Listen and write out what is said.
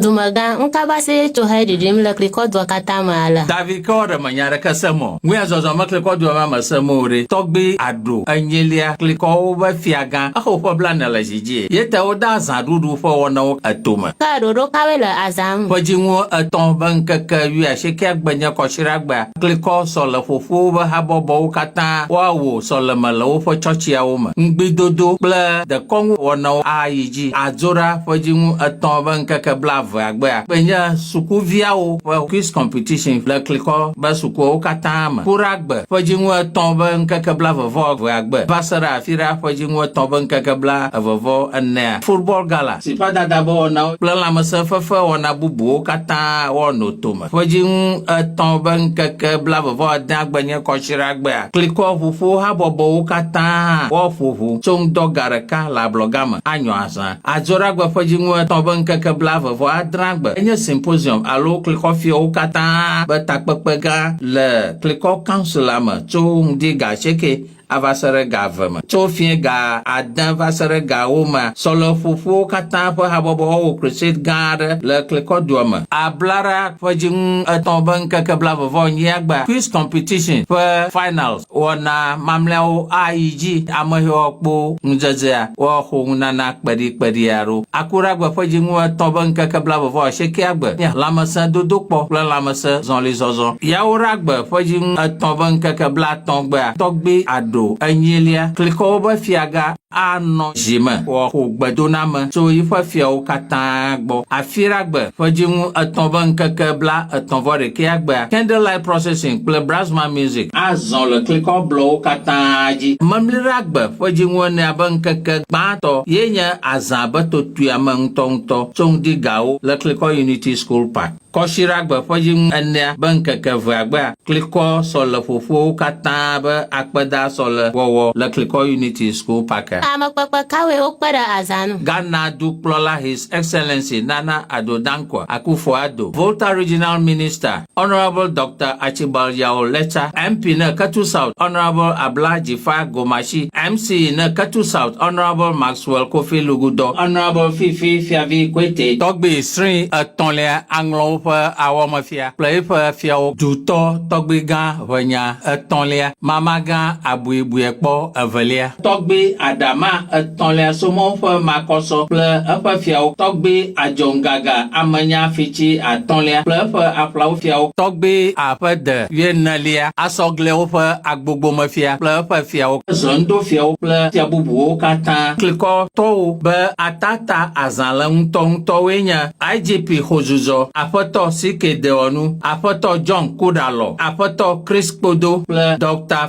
Dumegã, ŋkabasee tso he ɖiɖim le klikɔ dua katã me ale. David ke ɔɖe me nya ɖeke se mɔ, ŋuya zɔzɔ me klikɔ dua me ame se mɔ oɖe, tɔgbi aɖo enyilia klikɔwo be fiagã exo ƒe blane le zi djie. Ye te wode azã ɖuɖu ƒe wɔnawo eto me. Ke ɖoɖo kawoe le azã ŋu? Ƒe djiŋu etɔ be ŋkeke wuiasiekea gbe nye kɔsiɖagbea klikɔ sɔle ƒoƒuwo be habɔbɔwo katã woa wo sɔleme le woƒe tsɔtsiawo me. Ŋgbidodo kple dekɔnu wɔnawo ayi dji. dzi adzo ɖa ƒe dziŋu etɔ̃ be ŋkeke blaevea gbea kpe nye sukuviawo ƒe quiz competition le klikɔ be sukuawo katã me ku ɖa gbe ƒe dziŋu etɔ̃ be ŋkeke blaevevɔ evea gbe va se ɖe afi ɖa ƒe dziŋu etɔ̃ be ŋkeke blaevevɔ enea football gala si ƒe adadabewɔnawo kple lãmesẽfefewɔna bubuwo katã wɔ no to me. ƒedziŋu etɔ̃ be ŋkeke blaeve-vɔ-adea gbe nye Kɔsiɖagbea. Klikɔ ʋuƒo habɔbɔwo katã hã woaƒo ʋu tso ŋdɔ ga ɖeka le ablɔga me anyɔ azã. Adzoɖagbe ƒedziŋu etɔ̃ be ŋkeke blaeve-vɔ-adrea gbe enye Symposium alo klikɔ fiɔwo katã be takpekpe gã le klikɔ Council la me tso ŋdi ga asieke ava se ɖe ga eve me. Tso fiẽ ga ade va se ɖe ga ewo mea, Sɔleƒoƒuwo katã ƒe habɔbɔ wɔwɔ crusade gã aɖe le Klikɔdua me. Ablaɖa ƒe dziŋu etɔ̃ be ŋkeke blave-vɔ-enyia gbea Quiz Competition ƒe Finals wɔna mamlɛawo ayi dzi. Ameheɔkpo ŋudzedzea wɔa xoŋunana kpeɖikpeɖi aɖewo. Akuɖagbe ƒe dziŋu etɔ̃ be ŋkeke blave-vɔ-asiekɛa gbe nye lãmesẽdodokpɔ kple lãmesẽ zɔlizɔzɔ. Yawoɖagbe ƒe dziŋu etɔ̃ be ŋkeke bla. atɔ̃ gbea tɔgbui aɖo enyilia, klikɔ woƒe fiaga anɔ dzi me wòaxo gbedoname tso yiƒe fiawo katã gbɔ. Afiragbe ƒe dziŋu etɔ̃ ƒe ŋkeke blaetɔ̃ vɔ ɖekɛa gbea Candlelight Procession kple Brasma Music azɔ le klikɔ blɔwo katã dzi. Memliragbe ƒe dziŋu enea ƒe ŋkeke gbãtɔ ye nye azã be totoea me ŋutɔŋutɔ tso ŋdi gawo le klikɔ Unity School Park. Kɔsiɖagbe ƒe dziŋu enea be ŋkeke evea gbea klikɔ sɔleƒoƒowo katã be akpeda sɔle wɔwɔ le klikɔ Unity School Park a. Amekpekpe kawoe wokpe ɖe azã nu? Ghana Dukplɔla His Excellency Nana Addo Dankwa Akuffo Addo, Volta Regional Minister, Honourable Doctor Archibald Yaw Letsa, MP ne Ketu South, Honourable Abla Jifa Gomashi, MC ne Ketu South, Honourable Max. Swell Kofi Lugudɔ, Honourable Fifi Fiavi Koete. Tɔgbi sri etɔ̃lia aŋlɔ woƒe awɔmefia kple eƒe fiawo dutɔ tɔgbi gã ʋenya etɔ̃lia mama gã abuibuiekpɔ evelia. Tɔgbi aɖama etɔ̃lia somɔwo ƒe makɔsɔ kple eƒe fiawo tɔgbi adzɔŋgaga amenya fitsi atɔ̃lia kple eƒe aƒlawo fiawo. Tɔgbi aƒede wuienelia asɔ gliawo ƒe agbogbomefia kple eƒe fiawo, zɔndofiawo kple fia bubuwo katã, klikɔtɔwo, be ata ta azã le ŋutɔŋutɔwoe nye, IGP Xozudzɔ, Aƒetɔ CK Dewɔnu, Aƒetɔ John Kuda Lɔ, Aƒetɔ Chris Kpodo kple Doctor.